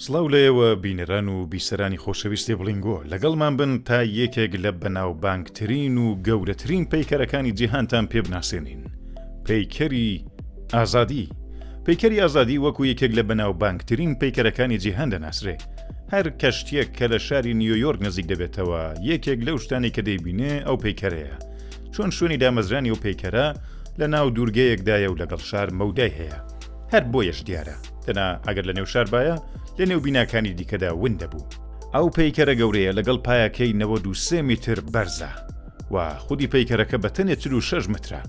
سڵاو لە ئێوە بینەران و بیسەرانی خۆشەویستی بڵینگۆ لەگەڵمان بن تا یەکێک لە بەناوبانگترین و گەورەترین پەیکەرەکانی جیهانتان پێ بناسێنین پەیکەری ئازادی پەیکەری ئازادی وەکو یەکێک لە بەناوبانگترین پەیکەرەکانی جیهان دەناسرێ هەر کەشتێک کە لە شاری نیویۆرک نزیک دەبێتەوە یەکێک لەو شتانی کە دەیبینێ ئەو پەیکەرەیە چۆن شوێنی دامەزرانی و پەیکەرە لە ناو دوورگەیەکدایە و لەگەڵ شار مەودای هەیە هەر بۆیەش دیارە دەنا ئەگەر لە نێو شار باە لە نێو بیناکانی دیکەدا ون دەبوو ئەو پەیکەرە گەورەیە لەگەڵ پایەکەی نەوە دو سێ میتر بەرزە و خودی پەیکەرەکە بە تەنێ چ و شەش مترە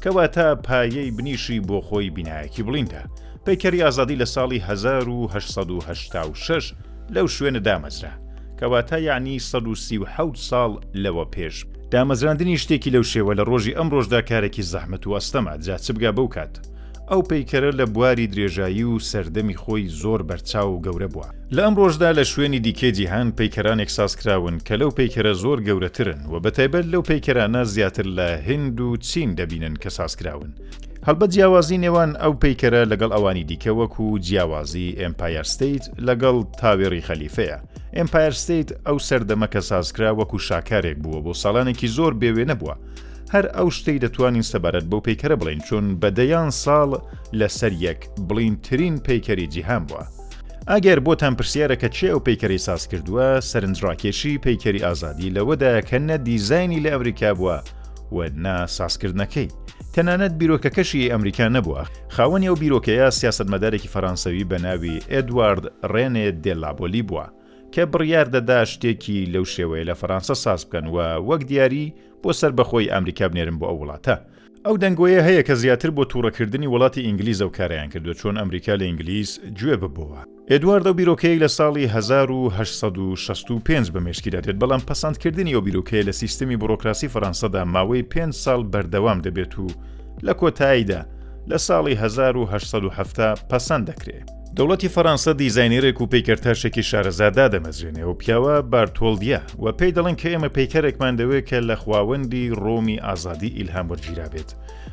کەواتە پایەی بنیشی بۆ خۆی بینایەکی بڵیندا پەیکەری ئازادی لە ساڵی 1970 لەو شوێنە دامەزرا کەواتە یەعنی سەد و سی و حەوت ساڵ لەوە پێش. دامەزراندنی شتێکی لەو شێوە لە ڕۆژی ئەمڕۆشدا کارێکی زەحمەت و ئەستەمە، جا چ بگا بەو کات. ئەو پەیکەرە لە بواری درێژایی و سەردەمی خۆی زۆر بەرچاو و گەورە بووە. لە ئەمڕۆشدا لە شوێنی دیکەی جیهان پەیکەرانێک ساز کراون کە لەو پەیکەرە زۆر گەورەترن و بەتایبەت لەو پەیکەرانە زیاتر لە هند و چین دەبینن کە ساز کراون. هەڵبەت جیاوازی نێوان ئەو پەیکەرە لەگەڵ ئەوانی دیکە وەکو جیاوازی ئێمپایەر ستەیت لەگەڵ تاوێڕی خەلیفەیە ئێمپایەر ستەیت ئەو سەردەمە کە سازکرا وەکو شاکارێک بووە بۆ ساڵانێکی زۆر بێوێنە بووە هەر ئەو شتەی دەتوانین سەبارەت بەو پەیکەرە بڵین چون بە دەیان ساڵ لەسەر یەک بڵینترین پەیکەری جیهان بووە ئەگەر بۆتان پرسیارەکە چێ ئەو پەیکەری ساز کردووە سەرنجڕاکێشی پەیکەری ئازادی لەوەدایە کە نە دیزایانی لە ئەمریکا بووە و نا سازکردنەکەی. تەنانەت بیرۆکەکەشی ی ئەمریکا نەبووە. خاوەنی ئەو بیرۆکەیە سیاسەتمەدارێکی فەرانسەوی بە ناوی ئێدوارد ڕێنێ دێ لابۆلی بووە کە بڕیار دەدا شتێکی لەو شێوەیە لە فەرانسە ساز بکەن و وەک دیاری بۆ سەربەخۆی ئەمریکا بنێرن بۆ ئەو وڵاتە. ئەو دەنگۆیە هەیە کە زیاتر بۆ تووڕەکردنی وڵاتی ئینگلیزەو کارایان کردووە چۆن ئەمریکا لە ئینگلیز جوێ ببۆوە. ئێدوارد ئەو بیرۆکەی لە ساڵی هەزار و هەشت سەد و شەست و پێنج بە مێشکیدا دێت، بەڵام پەسەندکردنی ئەو بیرۆکەیە لە سیستمی بوڕۆکراسی فەرانسەدا ماوەی پێنج ساڵ بەردەوام دەبێت و لە کۆتاییدا لە ساڵی هەزار و هەشت سەد و حەفتا پەسەند دەکرێ. دەوڵەتی فەرانسە دیزاینێرێک و پەیکەرتاشێکی شارەزا دادەمەزرێنێ، ئەو پیاوە بارتۆڵدیە، و پێی دەڵێن کە ئێمە پەیکەرێکمان دەوێ کە لە خواوەندی ڕۆمی ئازادی ئیلهام وەرگیرابێت،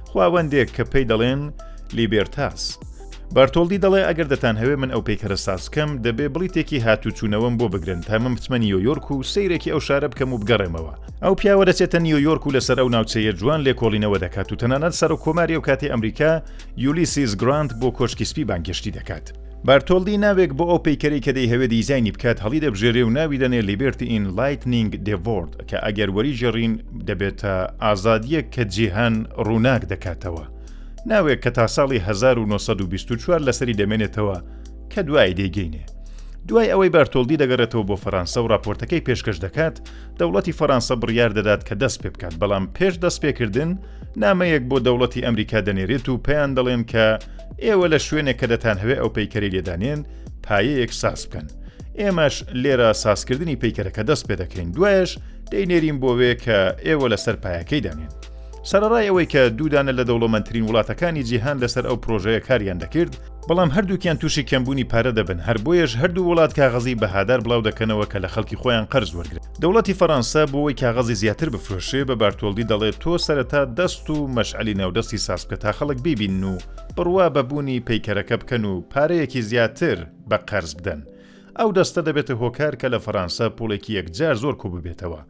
خواوەندێک کە پێی دەڵێن لیبێرتاس. بارتۆڵدی دەڵێ ئەگەر دەتانهەوێ من ئەو پەیکەرە سازکەم دەبێ بڵیتێکی هاتوچوونەوەم بۆ بگرن تا من بچمە نیۆیۆرک و سەیرێکی ئەو شارە بکەم و بگەڕێمەوە ئەو پیاوە دەچێتە نیۆیۆرک و لەسەر ئەو ناوچەیە جوان لێکۆڵینەوە دەکات و تەنانەت سەر و کۆماری ئەو کاتی ئەمریکا یولیسیز گرانت بۆ کۆشکی سپی بانگهێشتی دەکات بارتۆلدی ناوێک بۆ ئەو پەیکەری کە دەی هەوێ دیزایانی بکات هەڵی دەبژێرێ و ناوی دەنێ لیبرتی ئین لایتنینگ دێڤۆرد کە ئەگەر وەری جێڕین دەبێتە ئازادیەک کە جیهان ڕووناک دەکاتەوە ناوێک کە تا ساڵی 1924 لەسەری دەمێنێتەوە کە دوایی دەیگەینێ. دوای ئەوەی بەرتۆلدی دەگەڕێتەوە بۆ فەرانسە و راپۆرتەکەی پێشکەش دەکات دەوڵەتی فەرانسە بڕیار دەدات کە دەست پێ بکات بەڵام پێش دەست پێکردن نامەیەک بۆ دەوڵەتی ئەمریکا دەنێرێت و پێیان دەڵێن کە ئێوە لە شوێنێک کە دەتان هەوێ ئەو پەیکەری لێدانێن پایەیەک ساز بکەن ئێمەش لێرە سازکردنی پەیکەرەکە دەست پێ دەکەین دوایش دەینێرین بۆ وێ کە ئێوە لەسەر پایەکەی دانێن سەرەڕای ئەوەی کە دوو دانە لە دەوڵەمەندترین وڵاتەکانی جیهان لەسەر ئەو پرۆژەیە کاریان دەکرد، بەڵام هەردووکیان تووشی کەمبوونی پارە دەبن، هەر بۆیەش هەردوو وڵات کاغەزی بەهادار بڵاو دەکەنەوە کە لە خەڵکی خۆیان قەرز وەرگرن. دەوڵەتی فەرانسە بۆوەی کاغەزی زیاتر بفرۆشێ بە بارتۆڵدی دەڵێ تۆ سەرەتا دەست و مەشعەلی ناودەستی ساز بکە تا خەڵک بیبینن و بڕوا بە بوونی پەیکەرەکە بکەن و پارەیەکی زیاتر بە قەرز بدەن. ئەو دەستە دەبێتە هۆکار کە لە فەرانسە پووڵێکی یەکجار زۆر کوو ببێتەوە.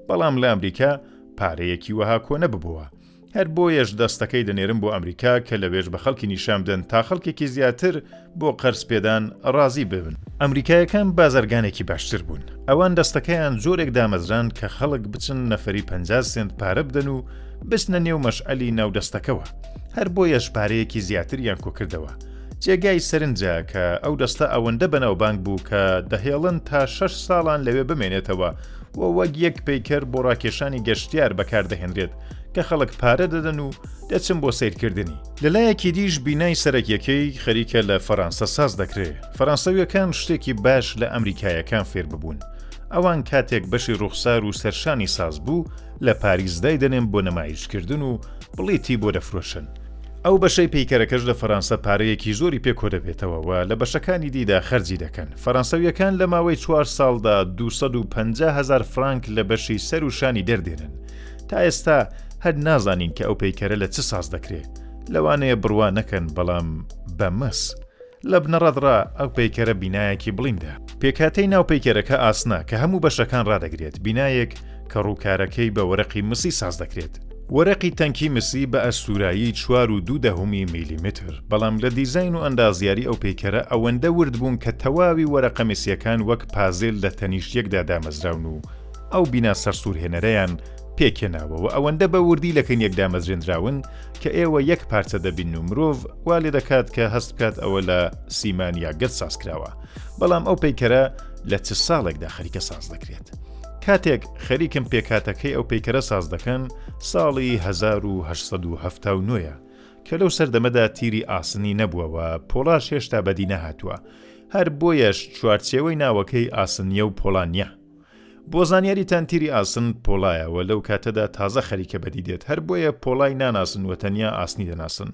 بەڵام لە ئەمریکا پارەیەکی وەها کۆ نەببووە، هەر بۆیەش دەستەکەی دەنێرم بۆ ئەمریکا کە لەوێش بە خەڵکی نیشان بدەن تا خەڵکێکی زیاتر بۆ قەرز پێدان ڕازی ببن. ئەمریکایەکان بازرگانێکی باشتر بوون، ئەوان دەستەکەیان جۆرێک دامەزراند کە خەڵک بچن نەفەری پەنجا سێنت پارە بدەن و بچنە نێو مەشعەلی ناو دەستەکەوە، هەر بۆیەش پارەیەکی زیاتریان کۆ کردەوە. جێگای سەرنجە کە ئەو دەستە ئەوەندە بەناوبانگ بوو کە دەهێڵن تا شەش ساڵان لەوێ بمێنێتەوە، و وەک یەک پەیکەر بۆ ڕاکێشانی گەشتیار بەکاردەهێنرێت کە خەڵک پارە دەدەن و دەچن بۆ سەیرکردنی. لەلایەکی دیش بینای سەرەکیەکەی خەریکە لە فەرانسە ساز دەکرێ، فەرانسەویەکان شتێکی باش لە ئەمریکایەکان فێرببوون، ئەوان کاتێک بەشی ڕوخسار و سەرشانی ساز بوو لە پاریس دایدەنێن بۆ نمایشکردن و بڵیتی بۆ دەفرۆشن، ئەو بەشەی پەیکەرەکەش لە فەرانسە پارەیەکی زۆری پێ کۆدەبێتەوە و لە بەشەکانی دیدا خەرجی دەکەن. فەرانسەوییەکان لە ماوەی چوار ساڵدا دوو سەد و پەنجا هەزار فرانک لە بەشی سەر و شانی دەردێنن. تا ئێستا هەر نازانین کە ئەو پەیکەرە لە چ ساز دەکرێ. لەوانەیە بڕوا نەکەن بەڵام بە مس. لە بنەڕەت ڕا ئەو پەیکەرە بینایەکی بڵیندە. پێکهاتەی ناو پەیکەرەکە ئاسنە کە هەموو بەشەکان ڕادەگرێت، بینایەک کە ڕووکارەکەی بە وەرەقی مسی ساز دەکرێت. وەرەقی تەنکی مسی بە ئەستوورایی چوار و دوو دەهەمی میلیمتر، بەڵام لە دیزاین و ئەندازیاری ئەو پەیکەرە ئەوەندە ورد بوون کە تەواوی وەرەقە میسییەکان وەک پازل لە تەنیشت یەکدا دامەزراون و ئەو بینا سەرسوورهێنەرەیان پێکهێناوە و ئەوەندە بە وردی لەکن یەک دامەزرێندراون کە ئێوە یەک پارچە دەبین و مرۆڤ وا لێ دەکات کە هەست بکات ئەوە لە سیمان یا گەرد ساز کراوە بەڵام ئەو پەیکەرە لە چ ساڵێکدا خەریکە ساز دەکرێت کاتێک خەریکم پێکاتەکەی ئەو پەیکەرە ساز دەکەن ساڵی 1970 کە لەو سەردەمەدا تیری ئاسنی نەبووەوە پۆڵاش هێشتا بەدی نەهاتووە هەر بۆیەش چوارچێوەی ناوەکەی ئاسنیە و پۆڵانیا بۆ زانیاریتان تیری ئاسن پۆڵایە وە لەو کاتەدا تازە خەریکە بەدی دێت هەر بۆیە پۆڵای ناناسن وە تەنیا ئاسنی دەناسن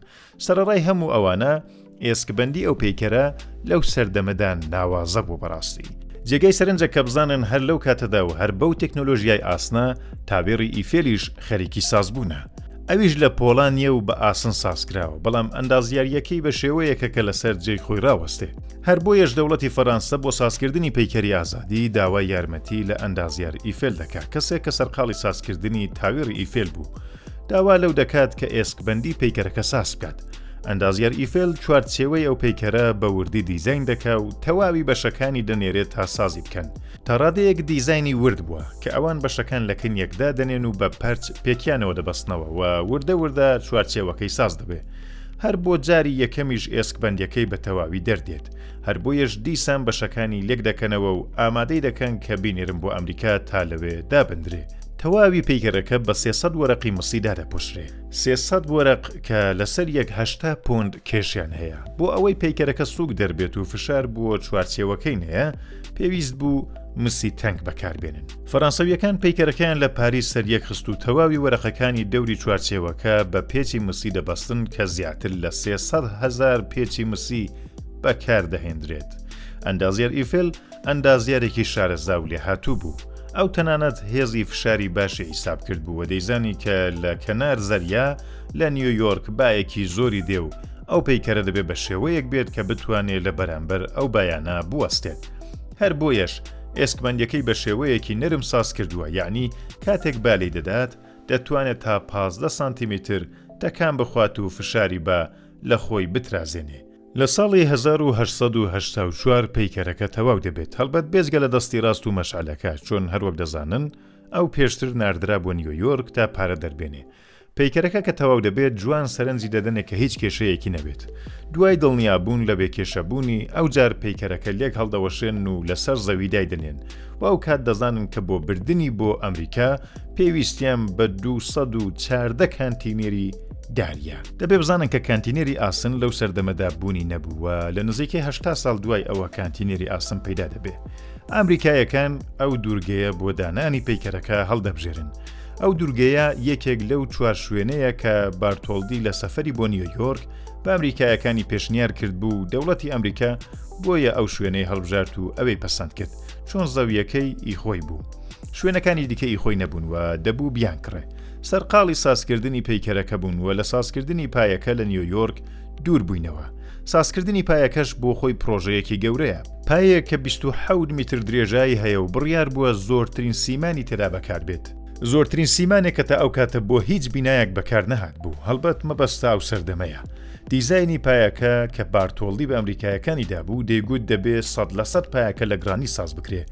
سەرەڕای هەموو ئەوانە ئێسکبەندی ئەو پەیکەرە لەو سەردەمەدا ناوازە بوو بەڕاستی جێگەی سەرنجە کە بزانن هەر لەو کاتەدا و هەر بەو تەکنۆلۆژیای ئاسنە تاوێڕی ئیفێلیش خەریکی سازبوونە. ئەویش لە پۆڵا نییە و بە ئاسن سازکراوە، بەڵام ئەندازیارییەکەی بە شێوەیەکە کە لەسەر جێی خۆی راوەستێ. هەر بۆیەش دەوڵەتی فەرانسە بۆ سازکردنی پەیکەری ئازادی، داوای یارمەتی لە ئەندازیار ئیفێل دەکا، کەسێک کە سەرقاڵی سازکردنی تاوێڕی ئیفێل بوو. داوا لەو دەکات کە ئێسکبەندی پەیکەرەکە ساز بکات. ئەندازیار ئیفێل چوارچێوەی ئەو پەیکەرە بە وردی دیزاین دەکا و تەواوی بەشەکانی دەنێرێ تا سازی بکەن. تا ڕادەیەک دیزاینی ورد بووە کە ئەوان بەشەکان لە کن یەک دادەنێن و بە پەرچ پێکیانەوە دەبەستنەوە و وردە وردە چوارچێوەکەی ساز دەبێ هەر بۆ جاری یەکەمیش ئێسک بەندەکەی بە تەواوی دەردێت هەر بۆیەش دیسان بەشەکانی لێک دەکەنەوە و ئامادەی دەکەن کە بینێرم بۆ ئەمریکا تا لەوێ دابدرێ تەواوی پەیکەرەکە بە سێسەد وەرەقی مسی دادەپۆشرێ سێسەد وەرەق کە لەسەر یەک هەشتا پۆند کێشیان هەیە بۆ ئەوەی پەیکەرەکە سووک دەربێت و فشار بووە چوارچێوەکەی نەیە پێویست بوو مسی تەنک بەکاربێنن فەرانسەویەکان پەیکەرەکەیان لە پاری سەر یەک خست و تەواوی وەرەقەکانی دەوری چوارچێوەکە بە پێچی مسی دەبەستن کە زیاتر لە 300هزار پێچی مسی بەکاردەهێندرێت ئەندازیار ئیفل ئەندازیارێکی شارەزا و لێهاتوو بوو ئەو تەنانەت هێزی فشاری باشی حیساب کرد بوو و دەیزانی کە لە کەنار زەریا لە نیویۆرک باەکی زۆری دێ و ئەو پەیکەرە دەبێ بە شێوەیەک بێت کە بتوانێت لە بەرامبەر ئەو بایانە بوەستێت هەر بۆیەش ئێسکمەندەکەی بە شێوەیەکی نەرم ساز کردووە یعنی کاتێک بالی دەدات دەتوانێت تا 15 سانتیمیتر تەکان بخوات و فشاری بە لە خۆی بترازێنێ لە ساڵی 1984 پەیکەرەکە تەواو دەبێت هەڵبەت بێزگە لە دەستی ڕاست و مەشعلەکە چۆن هەروەک دەزانن ئەو پێشتر ناردرا بۆ نیویۆرک تا پارە دەربێنێ پەیکەرەکە کە تەواو دەبێت، جوان سەرنجی دەدەنێ کە هیچ کێشەیەکی نەبێت. دوای دڵنیابوون لە بێکێشەبوونی، ئەوجار پەیکەرەکە لێک هەڵدەوەشێنن و لەسەر زەوی دایدەنێن و ئەوکات دەزانن کە بۆ بردنی بۆ ئەمریکا پێویستیان بە دوو سەد و چاردە کانتینێری دارییە. دەبێ بزانن کە کانتینێری ئاسن لەو سەردەمەدا بوونی نەبوو و لە نزیکەی هەشتا ساڵ دوای ئەوە کانتینێری ئاسن پەیدا دەبێ. ئامریکاییەکان ئەو دوورگەیە بۆ دانانی پەیکەرەکە هەڵدەبژێرن، ئەو دوورگەیە یەکێک لەو چوار شوێنەیە کە بارتۆلدی لە سەفری بۆ نیویۆرک بە ئەمریکایەکانی پێشنیار کرد بوو دەوڵەتی ئەمریکا بۆیە ئەو شوێنەی هەڵبژارت و ئەوەی پەسەند کرد چۆن زەویەکەی ئی خۆی بوو. شوێنەکانی دیکە ئی خۆی نەبوون و دەبوو بیان کڕێ. سەرقاڵی سازکردنی پەیکەرەکە بوون و لە سازکردنی پایەکە لە نیویۆرک دوور بووینەوە، سازکردنی پایەکەش بۆ خۆی پرۆژەیەکی گەورەیە، پایەیەک کە بیست و حەوت میتر درێژایی هەیە و بڕیار بووە زۆرترین سیمانی تێدا بەکار بێت، زۆرترین سیمانێک کە تا ئەو کاتە بۆ هیچ بینایەک بەکار نەهاتبوو، هەڵبەت مەبەست ئەو سەردەمەیە دیزاینی پایەکە کە بارتۆڵدی بە ئەمریکایەکانی دابوو دەیگوت دەبێ سەد لە سەد پایەکە لە گڕانیت ساز بکرێ،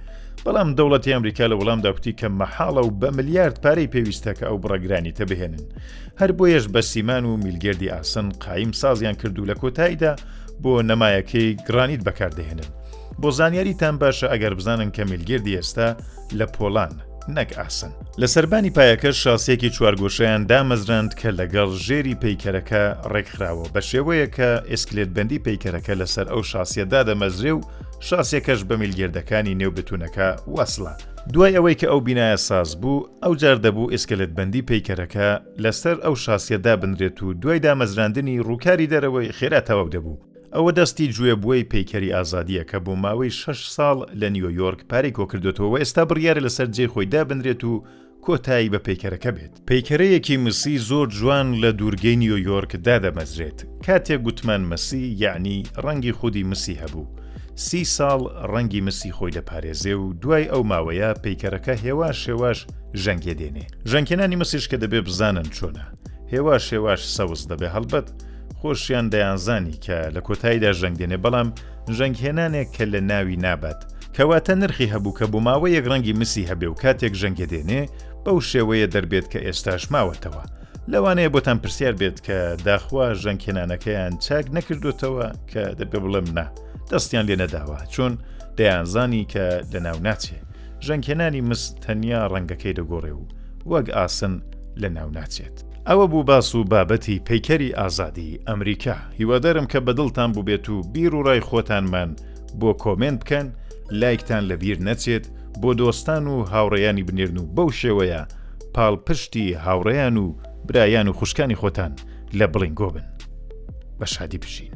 بەڵام دەوڵەتی ئەمریکا لە وەڵامدا کوتی کە مەحاڵە و بە ملیارد پارەی پێویستە کە ئەو بڕە گرانیتە بهێنن، هەر بۆیەش بە سیمان و میلگردی ئاسن قایم سازیان کرد و لە کۆتاییدا بۆ نەمایەکەی گڕانیت بەکاردەهێنن. بۆ زانیاریتان باشە ئەگەر بزانن کە میلگردی ئێستا لە پۆڵان نەک ئاسن. لە سەربانی پایەکە شاسیەکی چوارگۆشەیان دامەزراند کە لەگەڵ ژێری پەیکەرەکە ڕێکخراوە بە شێوەیەک کە ئێسکلێتبەندی پەیکەرەکە لەسەر ئەو شاسیە دادەمەزرێ و شاسیەکەش بە میلگردەکانی نێو بتونەکە وەسڵە. دوای ئەوەی کە ئەو بینایە ساز بوو، ئەوجار دەبوو ئێسکەلێتبەندی پەیکەرەکە لەسەر ئەو شاسیە دابنرێت و دوای دامەزراندنی ڕووکاری دەرەوەی خێرا تەواو دەبوو. ئەوە دەستی جوێبوەی پەیکەری ئازادیە کە بۆ ماوەی شەش ساڵ لە نیۆیۆرک پارەی کۆکردۆتەوە و ئێستا بڕیارە لەسەر جێی خۆی دابنرێت و کۆتایی بە پەیکەرەکە بێت. پەیکەرەیەکی مسی زۆر جوان لە دوورگەی نیۆیۆرک دادەمەزرێت. کاتێک گوتمان مسی یەعنی ڕەنگی خودی مسی هەبوو. سی ساڵ ڕەنگی مسی خۆی دەپارێزێ و دوای ئەو ماوەیە پەیکەرەکە هێواش هێواش ژەنگێ دێنێ. ژەنگێنانی مسیش کە دەبێ بزانن چۆنە، هێواش هێواش سەوز دەبێ، هەڵبەت خۆشیان دەیانزانی کە لە کۆتاییدا ژەنگ دێنێ، بەڵام ژەنگهێنانێک کە لە ناوی نابات، کەواتە نرخی هەبوو کە بۆ ماوەیەک ڕەنگی مسی هەبێ و کاتێک ژەنگێ دێنێ بەو شێوەیە دەربێت کە ئێستاش ماوەتەوە. لەوانەیە بۆتان پرسیار بێت کە داخوا ژەنکێنانەکەیان چاک نەکردوتەوە کە دەبێ بڵێم نا دەستیان لێ نەداوە چۆن دەیانزانی کە لە ناو ناچێ ژەنکێنانی مس تەنیا ڕەنگەکەی دەگۆڕێ و وەک ئاسن لە ناو ناچێت ئەوە بوو باس و بابەتی پەیکەری ئازادی ئەمریکا هیوادارم کە بەدڵتان بووبێت و بیر و ڕای خۆتانمان بۆ کۆمنت بکەن لایکتان لەبیر نەچێت بۆ دۆستان و هاوڕێیانی بنێرن و بەو شێوەیە پاڵپشتی هاوڕێیان و برایان و خوشکانی خۆتان لە بڵینگۆ بن. بە شادی بژین.